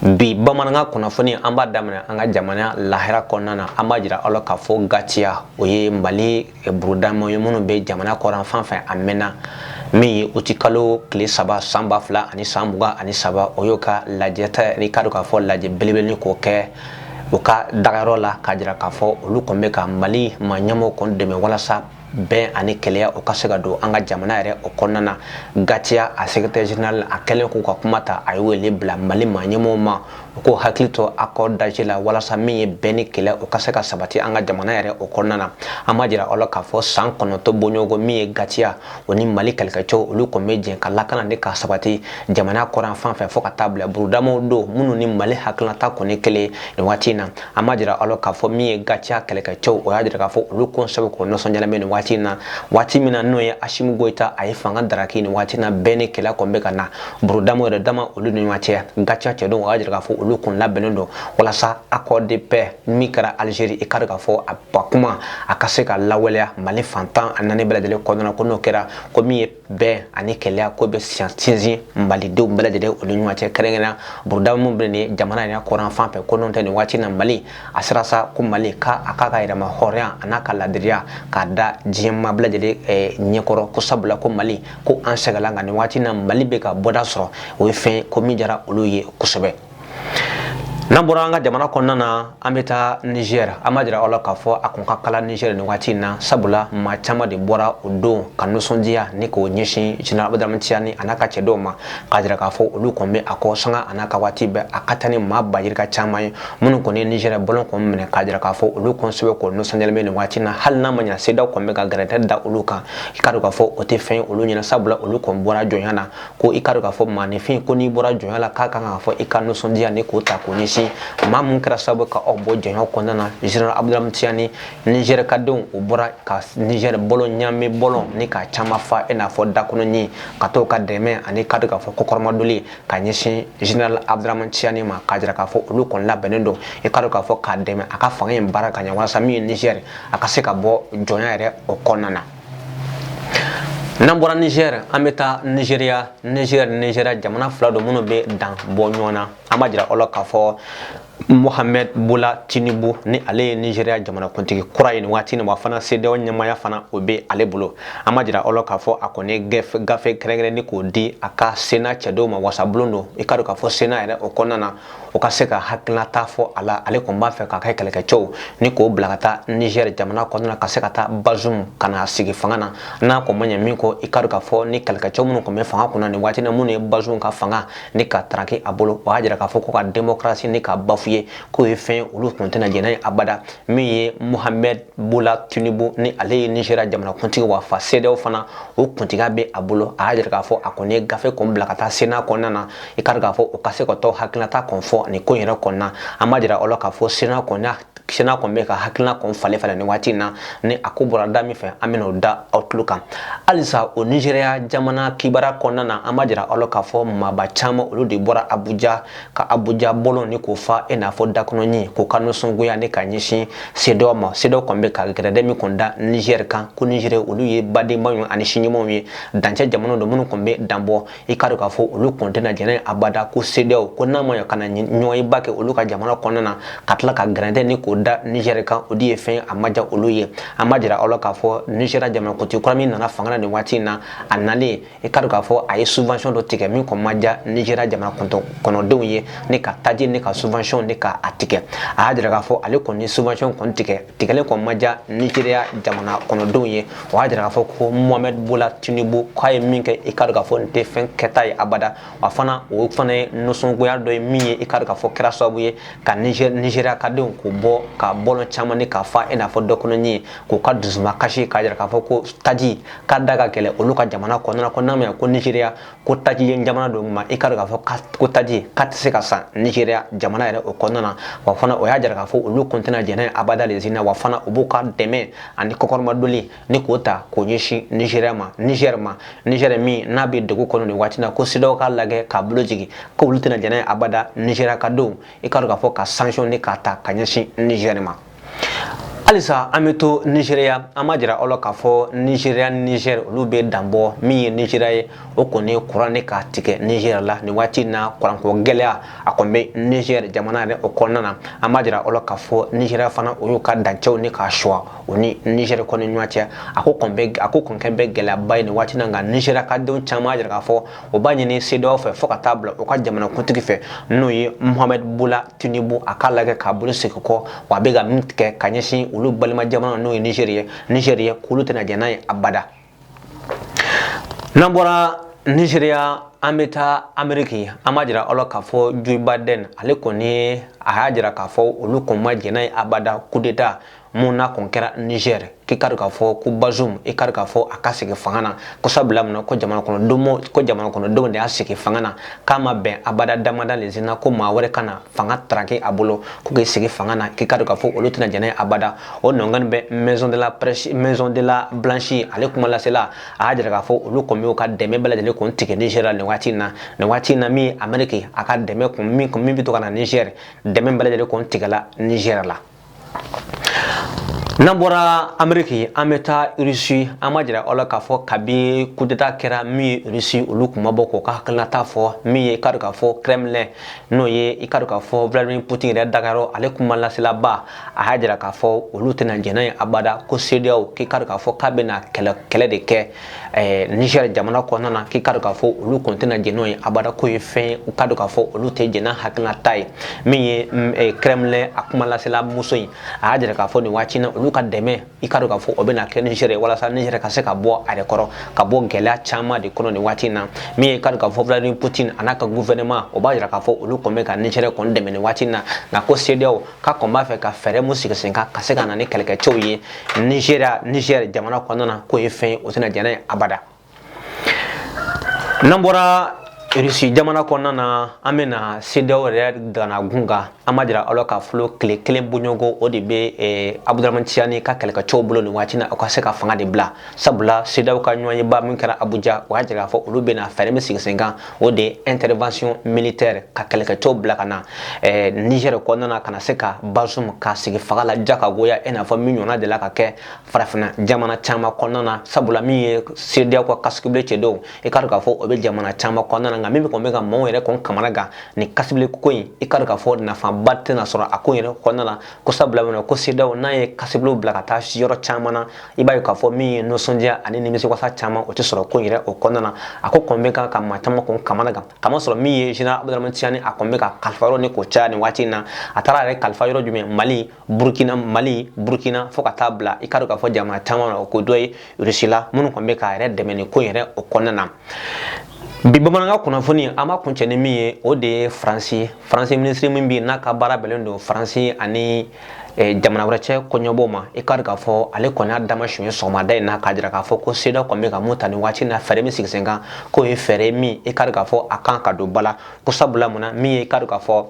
bi bamanankan kunnafoni an b'a daminɛ an ka jamana lahala kɔnɔna na an b'a jira aw la k'a fɔ gatiya o ye mali burudama ye minnu bɛ jamana kɔrɔn fan fɛ a mɛnna min ye utikalo tile saba san ba fila ani san mugan ani saba o y'o ka lajɛta n'i k'a dɔn k'a fɔ lajɛ belebele k'o kɛ u ka dagayɔrɔ la k'a jira k'a fɔ olu kɔni bɛ ka mali maa ɲɛmɔgɔw kɔni dɛmɛ walasa bɛn ani kelenya o ka se ka don an ka jamana yɛrɛ o kɔnɔna na gatiya a secrétaire général a kɛlen kɔ ka kuma ta a ye wele bila mali maa ɲɛmɔgɔw ma u k'u hakili to accord d'Alger la walasa min ye bɛn ni kelenya o ka se ka sabati an ka jamana yɛrɛ o kɔnɔna na an b'a jira aw la k'a fɔ san kɔnɔntɔn bɔɲɔgɔnko min ye gatiya o ni mali kɛlɛkɛcɛw olu kɔni bɛ jɛn ka lakana ni ka sabati jamana kɔrɔn fan fɛ fɔɔ ka taa bila burudamaw don minnu ni mali hakilata kɔni kelen nin waati in na an b'a jira aw la k'a fɔ min ye gatiya kɛlɛkɛcɛw o y'a jira k'a fɔ olu kɔni sɛbɛkɔrɔ nisɔndiyalen bɛ nin waati in na waati min na n'o ye asimi goyita a ye fanga daraki nin waati na bɛn ni kelenya kɔni bɛ ka na burudama yɛrɛ dama olu ni ɲɔgɔn cɛ gatiya cɛdenw y'a jira k'a fɔ olu kɔni labɛnnen don walasa accord de paix min kɛra algérie i k'a dɔn k'a fɔ a ba kuma a ka se ka lawaleya mali fan tan ni naani bɛɛ lajɛlen kɔnɔna ko n'o kɛra ko min ye bɛn ani kelenya k'o bɛ sinsin malidenw bɛɛ lajɛlen olu ɲɔgɔn cɛ kɛrɛnkɛrɛnya buruda minnu bɛ nin jamana yɛrɛ kɔrɔn fan fɛ ko n'o tɛ nin waati na mali a sera sa ko mali k'a a k'a ka yɛrɛmahɔrɔnya a n'a ka laadiriya k'a da diɲɛ maa bɛɛ lajɛlen eh, ɲɛkɔrɔ ko sabula ko mali ko an sɛgɛnla nka nin waati na mali bɛ ka bɔda sɔrɔ o ye fɛn ko min diyara olu ye kosɛbɛ n'an bɔra an ka jamana kɔnɔna na an bɛ taa nizɛri an b'a jira aw la k'a fɔ a kɔni ka kalan nizɛri nin waati in na sabula maa caman de bɔra o don ka nisɔndiya ni k'o ɲɛsin general abuduramani tiyani a n'a ka cɛdenw ma k'a jira k'a fɔ olu kɔni bɛ a kɔ sanga a n'a ka waati bɛɛ a ka taa ni maa ba yirika caman ye minnu kɔni ye nizɛri bɔlɔn kɔni minɛ k'a jira k'a fɔ olu kɔni sɛbɛkɔrɔ nisɔndiyalen bɛ nin waati in na hali n'a ma ɲa sedeyaw kɔni bɛ ka gɛrɛntɛ da olu kan i k'a dɔn k'a fɔ o tɛ fɛn ye olu ɲɛna sabula olu kɔni bɔra jɔnya na ko i k'a dɔn k'a fɔ maaninfin ko n'i bɔra jɔnya la k'a kan k'a fɔ i ka nisɔndiya ni k'o ta k'o ɲɛsin maa min kɛra sababu ka aw bɔ jɔnya kɔnɔna na general abuduramani tiyani nizɛri ka denw o bɔra ka nizɛri bɔlɔn ɲamɛ bɔlɔn nin k'a caman fa i n'a fɔ dakɔnɔɲin ka t'o ka dɛmɛ ani i k'a dɔn k'a fɔ kɔkɔrɔmadonni ka ɲɛsin general abuduramani tiyani ma k'a jira k'a fɔ olu kɔni labɛnnen don i k'a dɔn k'a fɔ k'a dɛmɛ a ka fanga in baara ka ɲɛ walasa min ye nizɛri a ka se ka bɔ jɔnya yɛrɛ o kɔnɔna na n'an bɔra nizɛri an bɛ taa nizeriya nizɛri ni nizeriya jamana fila don minnu bɛ dan bɔ ɲɔgɔn na an b'a jira aw la k'a fɔ mohamɛd bola tinubu ni ale ye nizeriya jamanakuntigi kura ye nin waati nin wa fana sedeyaw ɲɛmaaya fana o bɛ ale bolo an b'a jira aw la k'a fɔ a kɔni gafe kɛrɛnkɛrɛnnen k'o di a ka sena cɛdenw ma wasabulon don i k'a dɔn k'a fɔ sena yɛrɛ o kɔnɔna na o ka se ka hakilinata fɔ a la ale kɔni b'a fɛ k'a ka kɛlɛkɛcɛw ni k'o bila ka taa nizɛri jamana kɔnɔna na ka se ka taa bazum ka na sigi fanga na n'a kɔni ma ɲɛ min kɔ i k'a dɔn k'a fɔ ni kɛlɛkɛcɛw minnu kɔni bɛ fanga kunna nin waati na minnu ye bazum ka fanga ni ka taraki a bolo o y'a jira k'a fɔ ko ka demokarasi ni ka bafuwe k'o ye fɛn ye olu tun tɛna jɛn n'a ye abada min ye muhamɛd bola tinubu ni ale ye nizeriya jamanakuntigi wa fana sedeyaw fana o kuntigiya bɛ a bolo a y'a jira k'a fɔ a kɔni ye gafe kɔni bila ka taa sena kɔnɔna na i k'a dɔn k'a fɔ o ka se ka tɔ hakilinata kɔni fɔ nin ko in yɛrɛ kɔnɔna an b'a jira aw la k'a fɔ sena kɔni sena kɔni bɛ ka hakilina kɔni falen falen nin waati in na ni a ko bɔra da min fɛ an bɛna o da aw tulo kan halisa o nizeriya jamana kibaruya kɔnɔna na an b'a jira aw la k'a fɔ maaba caman olu de bɔra abuja ka abuja bɔlɔn ni k'o fa i n'a fɔ dakɔnɔɲin k'o ka nisɔngoya ni ka ɲɛsin sedeyaw ma sedeyaw kɔni bɛ ka gɛrɛntɛ min kɔni da nizeri kan ko nizeri olu ye badenma ye ani sigiɲɔgɔnmaw ye dancɛ jamana don minnu kɔni bɛ danbɔ i k'a dɔn k'a fɔ olu kɔni tɛna jɛn n'a ye abada ko sedeyaw ko n'a ma ɲɛ ka na ɲɔgɔnyeba kɛ olu ka jamana kɔnɔna na ka tila ka gɛrɛntɛ ni k'o da nizɛri kan o de ye fɛn a ma diya olu ye an b'a jira aw la k'a fɔ nizeriya jamanakuntigi kura min nana fanga na nin waati in na a nalen i k'a dɔn k'a fɔ a ye subvention dɔ tigɛ min kɔni ma diya nizeriya jamana kɔnɔdenw ye ni ka taji ni ka subvention ni ka a tigɛ a y'a jira k'a fɔ ale kɔni subvention kɔni tigɛ tigɛlen kɔni ma diya nizeriya jamana kɔnɔdenw ye o y'a jira k'a fɔ ko mohamɛd bola tinubu k'a ye min kɛ i k'a dɔn k'a fɔ nin tɛ fɛn kɛta ye abada wa fana o fana ye nisɔngoya dɔ ye min ye i k'a dɔn k'a fɔ kɛra sababu ye ka nizeriya ka denw k'u bɔ ka bɔlɔn caman ni k'a fa i n'a fɔ dakɔnɔɲin ye k'u ka dusumakasi k'a jira k'a fɔ ko taji k'a da ka gɛlɛn olu ka jamana kɔnɔna na ko n'a ma ɲɛ ko nizeriya ko taji ye jamana don ma i k'a dɔn k'a fɔ ko taji k'a tɛ se ka san nizeriya jamana yɛrɛ o kɔnɔna na wa fana o y'a jira k'a fɔ olu kɔni tɛna jɛn n'a ye abada le na wa fana u b'u ka dɛmɛ ani kɔkɔrɔmadonni ni k'o ta k'o ɲɛsin nizeriya ma nizɛri ma nizɛri min n'a bɛ dɛgun kɔnɔ nin waati na ko sedeyaw k'a lajɛ k'a bolo jigin ko olu tɛna jɛn n'a ye abada nizeriya ka don i k'a dɔn k'a fɔ ka sansiɔn ni k'a ta ka ɲɛsin nizɛri ma halisa an bɛ to nizeriya an b'a jira aw la k'a fɔ nizeriya ni nizɛri olu bɛ danbɔ min ye nizeriya ye o kɔni ye kuran de ka tigɛ nizɛri la nin waati in na kuranko gɛlɛya a kɔni bɛ nizɛri jamana yɛrɛ o kɔnɔna na an b'a jira aw la k'a fɔ nizeriya fana o y'u ka dancɛw ni k'a sɔgɔ o ni nizɛri kɔni ɲɔgɔn cɛ a ko kɔni bɛ a ko kɔni kɛlen bɛ gɛlɛyaba ye nin waati in na nka nizeriya ka denw caman y'a jira k'a fɔ o b'a ɲini sedeyaw fɛ fo ka taa bila u ka jamanakuntigi fɛ n'o ye mohamɛd bola tinubu a k'a lajɛ k'a bolo segin kɔ wa a bɛ ka min tigɛ ka ɲɛsin olu balima jamana n'o ye nizeri ye nizeri ye k'olu tɛna jɛn n'a ye abada n'an bɔra nizeriya an bɛ taa ameriki an b'a jira aw la k'a fɔ joe biden ale kɔni a y'a jira k'a fɔ olu kɔni ma jɛn n'a ye abada kudeta mun n'a kun kɛra niger k'i k'a dɔn k'a fɔ ko bazum i k'a dɔn k'a fɔ a ka sigi fanga na ko sabula mun ko jamana kɔnɔ domo ko jamana kɔnɔ denw de y'a sigi fanga na k'a ma bɛn abada damada le na ko maa wɛrɛ ka na fanga taraki a bolo ko k'i sigi fanga na k'i k'a dɔn k'a fɔ olu tɛna jɛn n'a ye abada o nɔngani bɛ maison de la presse maison de la blanche ale kuma lasela a y'a jira k'a fɔ olu kɔni y'o ka dɛmɛ bɛɛ lajɛlen kun tigɛ niger la nin waati in na nin waati in na min ameriki a ka dɛmɛ kun min kun min bɛ to ka na niger dɛmɛ bɛɛ lajɛlen kun tigɛla niger la N'an bɔra ameriki an bɛ taa irisi an b'a jira aw la k'a fɔ kabi kudeta kɛra min ye irisi olu tun ma bɔ k'o ka hakilinata fɔ min ye i k'a dɔn k'a fɔ kremlin n'o ye i k'a dɔn k'a fɔ vladimir putin yɛrɛ dagayɔrɔ ale kuma laselaba a y'a jira k'a fɔ olu tɛna jɛn n'a ye abada ko sedeyaw k'i k'a dɔn k'a fɔ k'a bɛna kɛlɛ kɛlɛ de kɛ ɛɛ nizɛri jamana kɔnɔna na k'i k'a dɔn k'a fɔ olu kɔni tɛna jɛn n'o ye abada k'o ye fɛn ye i k'a dɔn k'a fɔ olu tɛ jɛn n'a hakilinata ye min ye kremlin a kuma lasela muso in a y'a jira k'a fɔ nin waati na olu ka dɛmɛ i k'a dɔn k'a fɔ o bɛna kɛ nizɛri walasa nizɛri ka se ka bɔ a yɛrɛ kɔrɔ ka bɔ gɛlɛya caman de kɔnɔ nin waati na min ye i k'a dɔn k'a fɔ vladimir putin a n'a ka guvɛnɛman o b'a jira k'a fɔ olu kɔni bɛ ka nizɛri kɔni dɛmɛ nin waati na nka ko sedeyaw k'a kɔni b'a fɛ ka fɛɛrɛ min sigi sen kan ka se ka na ni kɛlɛkɛcɛw ye nizeriya nizɛri jamana kɔnɔna na k'o ye fɛn ye o tɛna jɛn n'a ye abada n'an bɔra irisi jamana kɔnɔna na an bɛ na sedeyaw yɛrɛ dakun kan an b'a jira aw la k'a fɔ tile kelen bɔɲɔgɔnko o de bɛ eh, abudulaman tiyani ka kɛlɛkɛcɛw bolo nin waati na o ka se ka fanga de bila sabula sedeyaw ka ɲɔgɔnyeba min kɛra abuja o y'a jira k'a fɔ olu bɛna fɛɛrɛ min sigi sen kan o de ye intervention militaire ka kɛlɛkɛcɛw bila ka na eh, Niger kɔnɔna na ka na se ka Bazoum ka sigi fanga la diya ka goya i n'a fɔ min ɲɔgɔnna delila ka kɛ farafinna jamana caman kɔnɔna na sabula min ye CEDEAO ka casque bleu cɛ don i k'a dɔn k'a fɔ o bɛ jamana caman kɔnɔna na nka min bɛ kɔni bɛ ka maaw yɛrɛ kɔni kamanagan nin casque bleu ko in i k'a dɔn k'a fɔ nafaba tɛna sɔrɔ a ko in yɛrɛ kɔnɔna na ko sabula mun na ko CEDEAO n'a ye casques bleus bila ka taa yɔrɔ caman na i b'a ye k'a fɔ min ye nisɔndiya ani nimisiwasa caman o tɛ sɔrɔ ko in yɛrɛ o kɔnɔna na a ko kɔni bɛ kan ka maa caman kɔni kamanagan k'a masɔrɔ min ye général abudulayi tiyani a kɔni bɛ ka kalifa yɔrɔ ni k'o caya nin waati in na a taara a yɛrɛ kalifa yɔrɔ jumɛn mali burukina mali burukina fo ka taa bila i k'a dɔn k'a fɔ jamana caman na o ko dɔ ye rusila minnu kɔni bɛ k'a yɛrɛ dɛmɛ nin ko in yɛrɛ o kɔnɔna na bi bamanankan kunnafoni an b'a kuncɛ ni min ye o de ye faransi ye faransi minisiri min bɛ yen n'a ka baara bɛnnen don faransi ani jamana wɛrɛ cɛ koɲɛnabɔ ma i k'a dɔn k'a fɔ ale kɔni y'a dama sunjata sɔgɔmada in na k'a jira k'a fɔ ko sedeyaw kɔni bɛ ka min ta nin waati na fɛɛrɛ min sigi sen kan k'o ye fɛɛrɛ min i k'a dɔn k'a fɔ a kan ka don ba la ko sabula mun na min ye i k'a dɔn k'a fɔ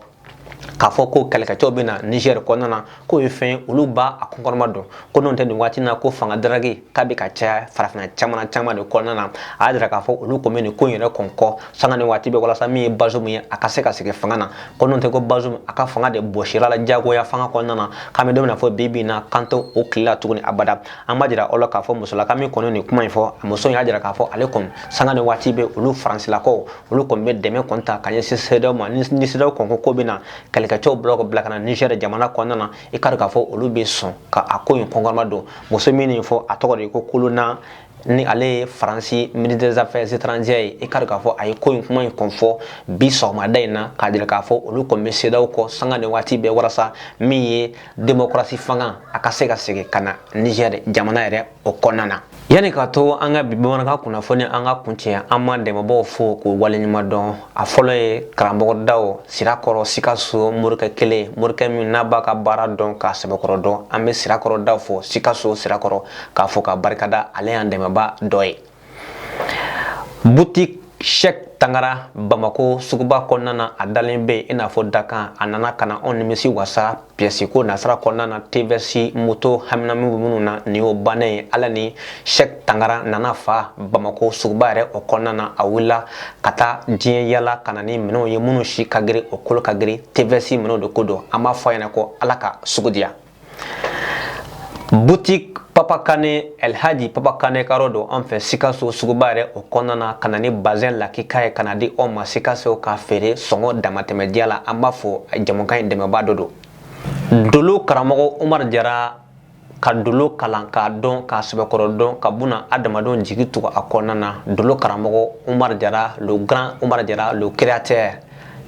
k'a fɔ ko kɛlɛkɛcɛw bɛ na nizɛri kɔnɔna na k'o ye fɛn olu b'a kɔkɔrɔmadon ko n'o tɛ nin waati na ko fanga taraki k'a bɛ ka caya farafinna caman caman de kɔnɔna na a y'a jira k'a fɔ olu kɔn bɛ nin ko in yɛrɛ kɔn kɔ sanga ni waati bɛɛ walasa min ye bazomu ye a ka se ka segin fanga na ko n'o tɛ ko bazomu a ka fanga de bɔsira a la jagoya fanga kɔnɔna na k'an bɛ don min na fɔ bi bi in na k'an tɛ o tile la tuguni abada an b'a jira aw la k'a fɔ musolaka min kɔni nin kuma in fɔ a muso in y'a jira k'a fɔ ale kɔni sanga ni waati bɛɛ olu faransilakaw olu kɔni bɛ dɛmɛ kɔni ta ka ɲɛsin sedaw ma ni sedaw kɔn ko k'u bɛ na kɛlɛkɛcɛw bila ka bila ka na nizɛri jamana kɔnɔna na i k'a dɔn k'a fɔ olu bɛ sɔn ka a ko in kɔkɔrɔmadon muso min nin fɔ a tɔgɔ de ye ko Colonna ni ale ye faransi ministre des affaires étrangères ye i k'a dɔn k'a fɔ a ye ko in kuma in kɔn fɔ bi sɔgɔmada in na k'a jira k'a fɔ olu kɔni bɛ sedaw kɔ sanga ni waati bɛɛ walasa min ye démocratie fanga a ka se ka segin ka na niger jamana yɛrɛ o kɔnɔna na yanni ka to an ka bi bamanankan kunnafoni an k'a kuncɛ an b'an dɛmɛbaaw fo k'u waleɲuman dɔn a fɔlɔ ye karamɔgɔ daw sirakɔrɔ sikaso morikɛ kelen morikɛ min n'a b'a ka baara dɔn k'a sɛbɛkɔrɔ dɔn an bɛ sirakɔrɔ daw fo sikaso sirakɔrɔ k'a fo k'a barikada ale y'an dɛmɛba dɔ ye Boutique Cheick Tangara Bamako suguba kɔnɔna na a dalen bɛ i n'a fɔ dakan a nana ka na aw nimisi wasa pièce ko nasira kɔnɔna na TVS moto haminami bɛ minnu na nin y'o bannen ye ala ni Cheick Tangara nana fa Bamako suguba yɛrɛ o kɔnɔna na a wulila ka taa diɲɛ yala ka na ni minɛnw ye minnu si ka girin u kolo ka girin TVS minɛnw de ko don an b'a fɔ a ɲɛna ko ala ka sugu diya boutique papa kane elhaji papa kane ka yɔrɔ don an fɛ sikaso suguba yɛrɛ o kɔnɔna na ka na ni bazɛn lakika ye ka n'a di aw ma sikaso k'a feere sɔngɔ damatɛmɛ diya la an b'a fo jamukan in dɛmɛba dɔ don dolo karamɔgɔ umar jara ka dolo kalan k'a dɔn k'a sɛbɛkɔrɔ dɔn ka bunadamadenw jigi tugu a kɔnɔna na dolo karamɔgɔ umar jara le grand umar jara le créateur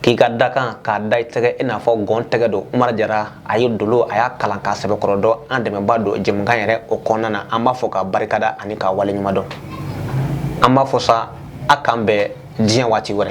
k'i ka dakan k'a da i tɛgɛ i n'a fɔ gɔn tɛgɛ don umar jara a ye dolo a y'a kalan k'a sɛbɛkɔrɔ dɔn an dɛmɛba don jamukan yɛrɛ o kɔnɔna na an b'a fo k'a barikada ani k'a waleɲuman dɔn an b'a fɔ sa a k'an bɛn diɲɛ waati wɛrɛ